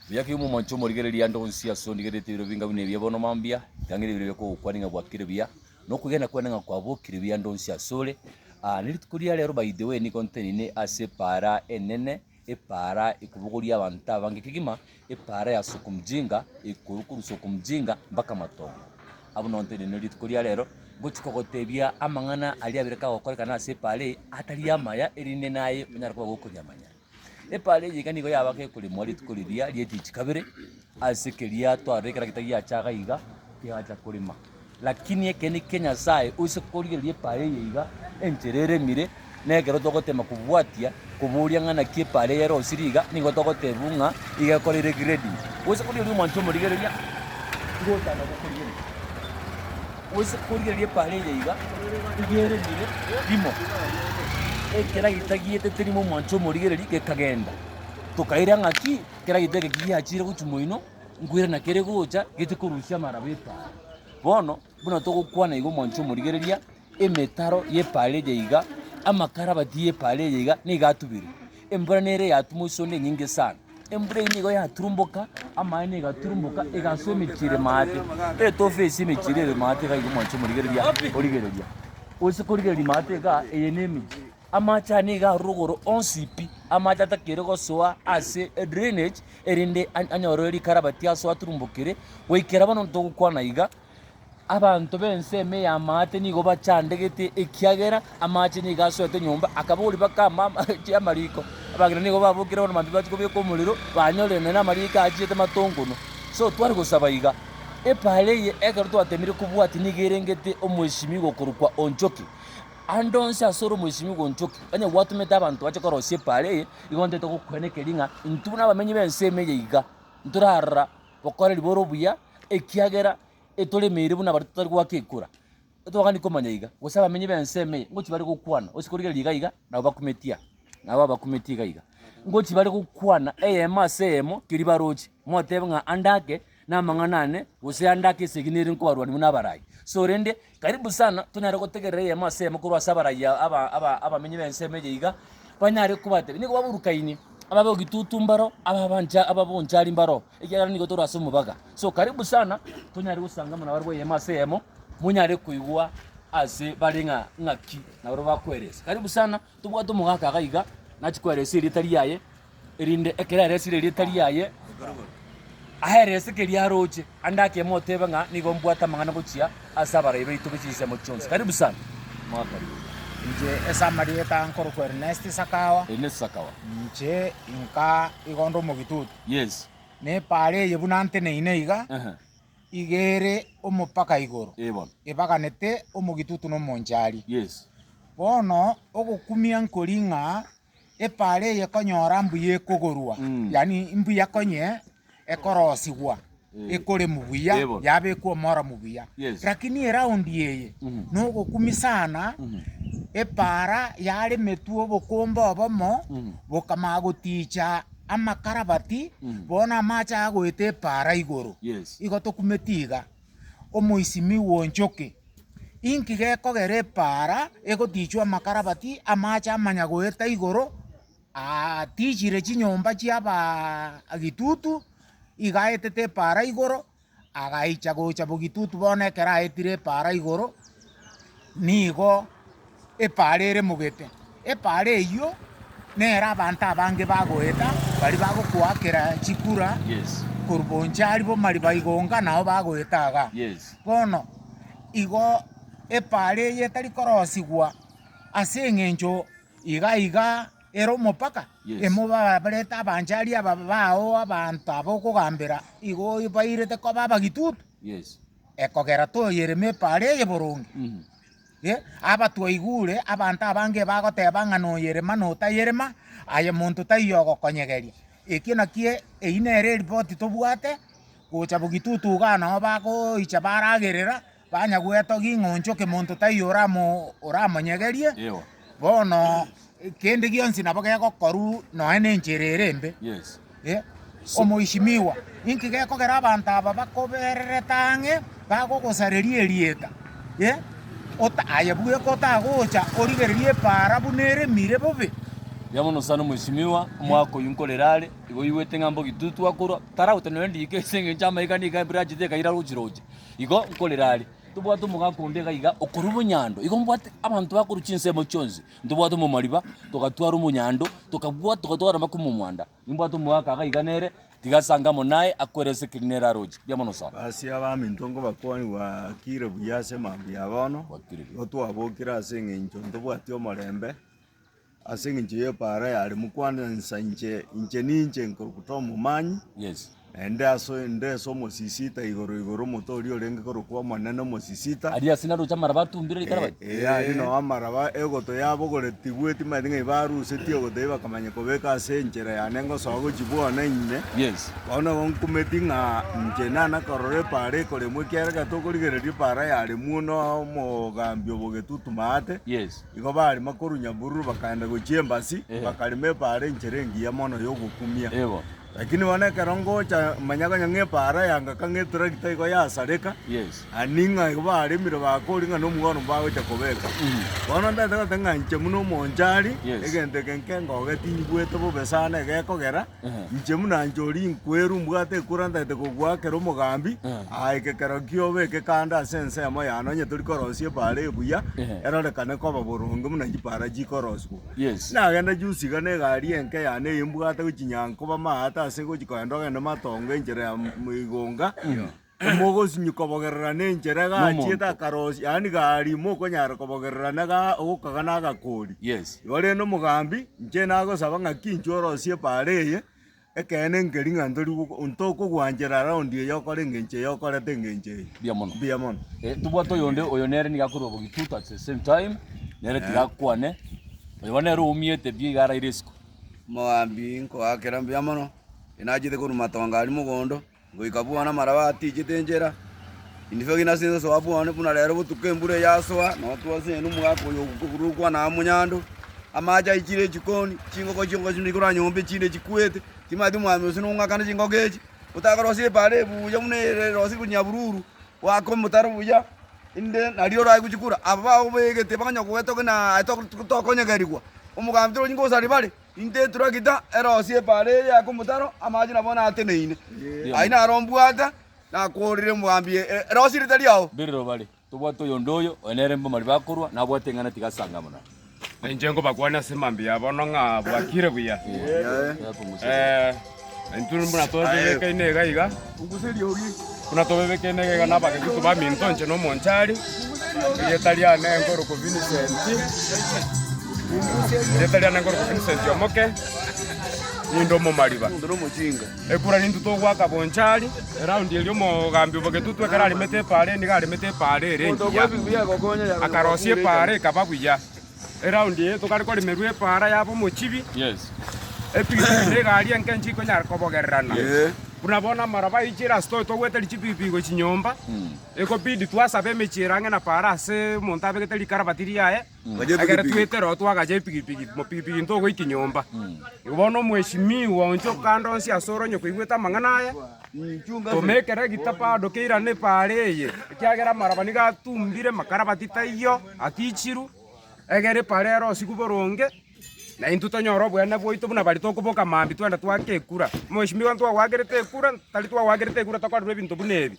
Oyoka oyomo omonche omorigereria ande onsi ase ondigerete ebiro binga buna ebi bono mambia, ekiagera ebiro bia kogokwana ng'a gwakire buya, na okwegena kwane ng'a kwabokire buya ande onsi ase ore. Ah, ne rituko ria rero by the way nigo ntenine ase epaara enene, epaara ekobogoria abanto abange kegima, epaara ya soko mjinga, ekorwa korwa soko mjinga mpaka matongo. Abwo nabo ntenine rituko ria rero, ngochia kogotebia amang'ana aria abere kagokorekana ase epaara eye, atari amaya, erinde naye onyare koba gokonyamanya. Epaari eye iga nigo yabaga ekorimwa rituko riria ri'etichi kabere, ase keria twarorire ekero gitagiacha iga iga kegacha korima. Lakini ekeene kia Nyasae ose korigereria epaari eye iga enchera eremire, na ekero togotema kobwatia koboria ng'a naki epaari eye erosirie iga, nigo togotebiwa ng'a iga ekoreire grading. Ose korigereria omwancho omorigereria, igo otana gokorigereria. Gose korigia ri'epaara eria iga rigereire rimo, ekera gitagiete terimo omwancho omorigereri gekagenda. Tokaira ng'a ki kera gita eke kigiachire gochia moino, nkoira na kere gocha gete korusia amaraba epaara. Bono buna togokwana iga omwancho omorigereria, emetaro y'epaara eria iga, amakarabati y'epaara eria iga nigo atubire. Embura nere yatuma ase onde enyinge sana. Embura eye nigo yaturumboka, amaene igaturumboka, egaswa emechie ere maate, etofe esie emechie ere ere maate iga igo mwancha omorigereria origereria. Gose korigereria maate igaa, eye ne emechie. Amache aya nigo arure igoro onsi pi, amache atakere gosoa ase e drainage, erinde an- anyorere rikarabati asoe aturumbokere, goikera bono ntogokwana iga. Abanto b'ensemo ey'amaate nigo bachandegete, ekiagera amaache nigo asoete nyomba, akaboria bakama amaache amariko. Abageni nigo babokire bono mambia bachia kobieka omorero, banyorerania n'amariiko aachiete matongono. So tware gosaba iga, Epaara eye ekero twateemire kobwatia nigo erengete omwesimigwa okorokwa Onchoki. Ande onsi ase ore omwesimigwa Onchoki, onye gwatomete abanto bache korosia epaara eye, igo ntaete gokweena ekeri ng'a intwe buna abamenyi b'ensemo eye iga ntorara gokora riboro obuya, ekiagera etoremeire buna baria totari goaka ekura. Totogani komanya iga, gose abamenyi b'ense ime eye, ngochi bare gokwana, gose korigereria iga iga, nabo bakumeti aa, nabo abakumeti iga iga. Ngochi bare gokwana eyemo ase eyemo keria baroche, motebe ng'a ande ake namang'ana ane, gose ande ake esegi nere nkobarwani buna abarai. So rende, Karibu sana tonyare gotegerera eyemo ase eyemo korwa ase abarayia abamenyi b'ensemo eye iga, banyare kobatebia nigo baburukaini, ababe ogitutu mbaro, ababancha ababonchari mbaro, ekiagera nigo tore ase omobaga. So karibu sana tonyare gosangamwa nabarabwo eyemo ase eyemo, monyare koigwa ase bare ng'a ng'aki nabarabwo bakoeresa. Karibu sana tobwate omogaka iga nachi koeresa erieta riaye, erinde ekero aresire erieta riaye ahere ase keria aroche, ande akemo otebe ng'a nigo mbwate amang'ana gochia ase abarai baito be chinsemo chionsi. Karibu sana. Mwakaribu. Inche ase amarieta nkorokwa Ernest Sakawa. Ernest Sakawa. Inche inka igo ndo omogitutu. Yes. Na epaara eye buna nteneine iga, Ehe. iga ere omopaka igoro. Ee bono. Ebaganete omogitutu na omonchari. Yes. Bono ogokumia nkori ng'a Epaara eye ekonyora mbuya ekogorwa, yaani mbuya konye ekorosigwa ekoremu buya, yabekwa omoromu buya. Lakini eraundi eye nogokumi sana, epaara yaremetwe obokomba obomo bokamanya goticha amakarabati, bono amache agoeta epaara igoro. Igo tokumeti iga. omoisimi bw'enchoki, inki gekogera epaara egotichwa amakarabati amache amanya goeta igoro atichire chinyomba chi'abaagitutu, iga aetete epaara igoro, agaicha gocha bogitutu bono ekero aetire epaara igoro. Nigo epaara ere mogete. Epaara eyio nere abanto abange bagoeta, baria bagokoakera chikura korwa Bonchari bo Mariba igonga nao bagoeta iga. Bono igo epaara eyio etari korosigwa ase eng'encho iga iga ere omopaka, emobarete abanchari aba bao abanto aba okogambera igo bairete koba abagitutu. ekogera toyereme epaara eye boronge. Eh, aba twaigure abanto abange bagoteba ng'a noyerema na otayerema, aye monto taiyo ogokonyegeria. Ekio nakio eyio nere eripoti tobwate, gocha bogitutuga nao nabo bagoicha baragerera, banya gwetogia ng'a onchoke monto taiyo oramo- oramonyegerie, Ewa. Bono kende gionsi nabo gegokorwa nonya nenchera ere embe. Eh, omoishimiwa, inki gekogera abanto aba bakobererete ang'e bagogosareria erieta? Eh, ota aye bweka otagocha origererie epaara buna eremire bobe. Eria mono sana omoishimiwa, omwaka oyio nkorere are, igo oigwete ng'a mbogi tu twakorwa, taragotenena riiko ase engencho amaiga nigo embura yachete ekaira roche roche. Igo nkorere are. Tobwate omogaka onde iga iga okorwa obonyando, igo mbwate abanto bakorwa chinsemo chionsi, ntobwate omo omariba, togatwara omonyando, tokabwata, togatwara mpaka omo omwanda. Nimbwate omogaka iga iga nere, tiga ase ange amo naye, akwere ase ekeri nere aroche. Riamwe na osato. Ase abaminto nkobakwani gwakire buya ase mambia ya bono, Gwakire buya. igo twabokire ase eng'encho ntobwati omorembe. Ase engencho y'epaara yare mokwana ensa inche, inche ninche nkorokota omomanyi, Yes. naende aso inde ase omosisita igoro igoro omote oria orenge korokwa Omonene omosisita. Aria ase naroche amaraba atumbire rikara bati. Ee, aria nao amaraba egoto yabogoretigwe, timanyeti ng'a ibarusetie egoto eyio bakamanya kobeka ase enchera yane ngosoa gochia bwona ime. Yes. Bono igo nkumeti ng'a inche nana korora epaara ekoremwa ekiagera tokorigeriria epaara yaremwa onoe omogambi obogetutuma aate. Yes. Igo barema korwa nyabururu bakaenda gochia embasi, bakarema epaara enchera engiya mono y'ogokumia. Yego. Lakini bono ekero ngocha manya konya ng'a epaara yanga ka ng'a etractor igo yasareka, Yes. ani ng'a igo baremire bakori ng'a nomogoro mbagocha kobeka. Bono ntaete goteba ng'a inche buna omonchari, Yes. egento eke nkengoge tinyigwete bobe sana egekogera, Inche buna nchori inkweru, mbwate ekura ntagete kogoakera omogambi, aa ekekero ki'obeke kando ase ensemo yane, onye tori korosia epaara ebuya, erorekane koba boronge buna chipaara chikoroswa. Yes. Nagende juzi iga n'egari enke yane eye mbwate gochinyanga koba maate ase gochia kogenda ogende Matongo enchera ya Igunga, Mogosinyi kobogerera nenchera gachiete akarosia, yaani gari mokonyara kobogerera na ga ogokaga na agakori. Yes. Igo rende omogambi, inche nagosaba ng'aki inche orosie epaara eye, ekeene enkeri ng'a ntori goko ntokogwanchera round eye okore engencho eye okorete engencho eye. Mbuya mono. Mbuya mono. Eh, tobwate oyonde oyo nere niga akorwa Bogitutu at the same time, nere tiga akwane. Oyo bono nere oumiete pi iga araire isiko. Omogambi, nkoakera mbuya mono, nachiete korwa matongo aria mogondo. Goika bono amaraba atiichete enchera, indifagi na ase ensosoa bwane, buna rero botuko embura eyasoa, na otwase ene omogaka oyo ogokogurwa okwana amo nyando, amaache aichire echikoni, chingoko chiongo chinde chikora nyomba echinde chikwete, timanyeti omwami ose nong'akane chingoko echi, otakorosire epaara eye buya buna ere erosirwe nyabululu, goaka omotaro buya, inde nario orae gochikura. Aba bago baegete bakonyora kogetogia na tokonyegerigwa, omogambi torochi ngosari bare. Intee eturakita erosi epaara eye y'akomotaro amache nabo nateneine. Aye naro mbwate nakoorire omobambi erosi ere tari ao. Biri robare, tobwate oyonde oyo, oyo nere mbomari bakorwa, nabwate eng'ana tiga ase ang'e buna. Nainche nkobakwania ase mambia bono ng'a bwakire buya. Intwe buna tobebekeine iga iga, buna tobebekeine iga iga n'Abakristo baminto inche n'omonchari, erieta riane nkoruku Vincent, erieta riane nkoruku Vincent Omoke, ninde omomariba. Ekura nintwe togoaka bonchari, eraundi eria omogambi bw'egetutu ekero aremete epaara nigo aremete epaara ere engiya, akarosia epaara ekaba buya. Eraundi eye tokare koremerwa epaara yaba omochibi, epikipiki na egari enke inche ikonyara kobogererana. Buna bono amaraba aiche ase tobe togwete richipipigi gochia chinyomba, ekobidi twasabe emechie ere ang'e na paara ase omonto abegete rikarabati riaye, ekero twetere oo twagacha epikipiki, mopikipiki ntogoikia nyomba. Igo bono omweshimiwa oonche o kando onsi ase oronye koigwete amang'ana aya, toma ekero egita bado keirane epaara eye, ekiagera amaraba nigo atumbire, makarabati taiyo. Atichiru, egere paara ere osigu boronge, na intwe tonyore obweene bwaito buna baria tokoboka mambia twende twaake ekura. Mweshimiwa ntwagoagerete ekura, tari twagoagerete ekura tokorerwa ebinto buna ebi.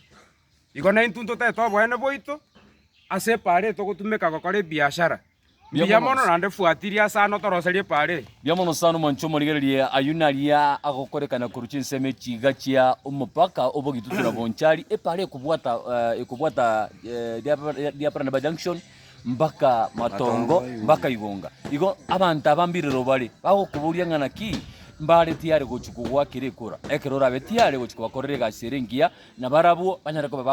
Igo na intwe ntotete obweene bwaito ase epaara eye togotumeka gokora ebiashara mbuya mono naende fuatiria ase ano toroserie epaara eye. Biamono sana omonche omorigererie ayio naria agokoreka na korwa chinsemo chiiga chia omopaka o Bogitutu na Bonchari epaara ekobwata ekobwata Diaparanaba Junction mbaka Matongo mbaka Igonga. Igo abanto aba mbirero bare bagokoboria ng'a naki mbare tiare gochia kogwakera ekura ekero orabe tiare gochia kobakorera egasi ere engiya na barabwo banyare koba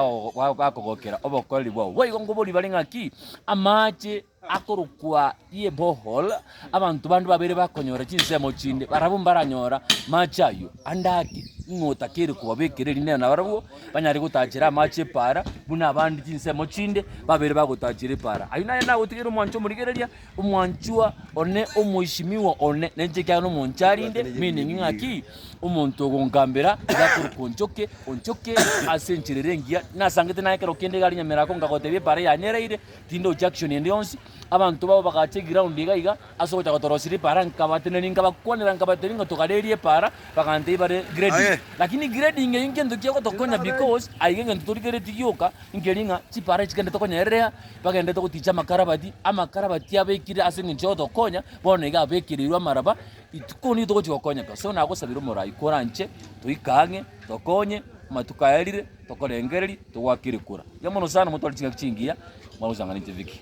bakogokera obokoreri bwao. Boigo nkoborie bare ng'aki amache Akorokwa ye borehole, abanto bande babere bakonyora chinsemo chinde, barabwo mbaranyora amache ayio ande ake ng'a otakeire kobabekera erinena, nabarabwo banyare gotachera amache epaara, buna abande chinsemo chinde babere bagotachera epaara. Ayio naye nagotigere omwancho omorigereria, omwanchwa one, omoisimigwa one, nenche ekiagera nomonche arinde, meaning ng'a ki, omonto ogonkambera iga akorokwa onchoke, onchoke ase enchera ere engiya, nasangete naye ekero kende iga arinyemerako ngagotebia epaara yane eraire, Tinde ojaction ende yonsi. Abanto babo bagacha eground iga iga ase ogocha gotorosira epaara nkabatenenia nkabakwanera nkabatebi ng'a togarerie epaara bagantebia bare grading. Lakini grading eyio ngento kiagotokonya because aiga egento torigeretie gioka nkeri ng'a chipaara echi kende tokonyererea bagendete goticha amakarabati, amakarabati abekire ase engencho y'ogotokonya bono iga abekereirwe amaraba ituko nigo togochi gokonyeka. So nagosabire omorai kore anche toika ang'e tokonye amatuko aya arire. Tokorengereria, togwakire kura. Yamono sana, motware chingaki chingiya, mwagochang'ana inche bike.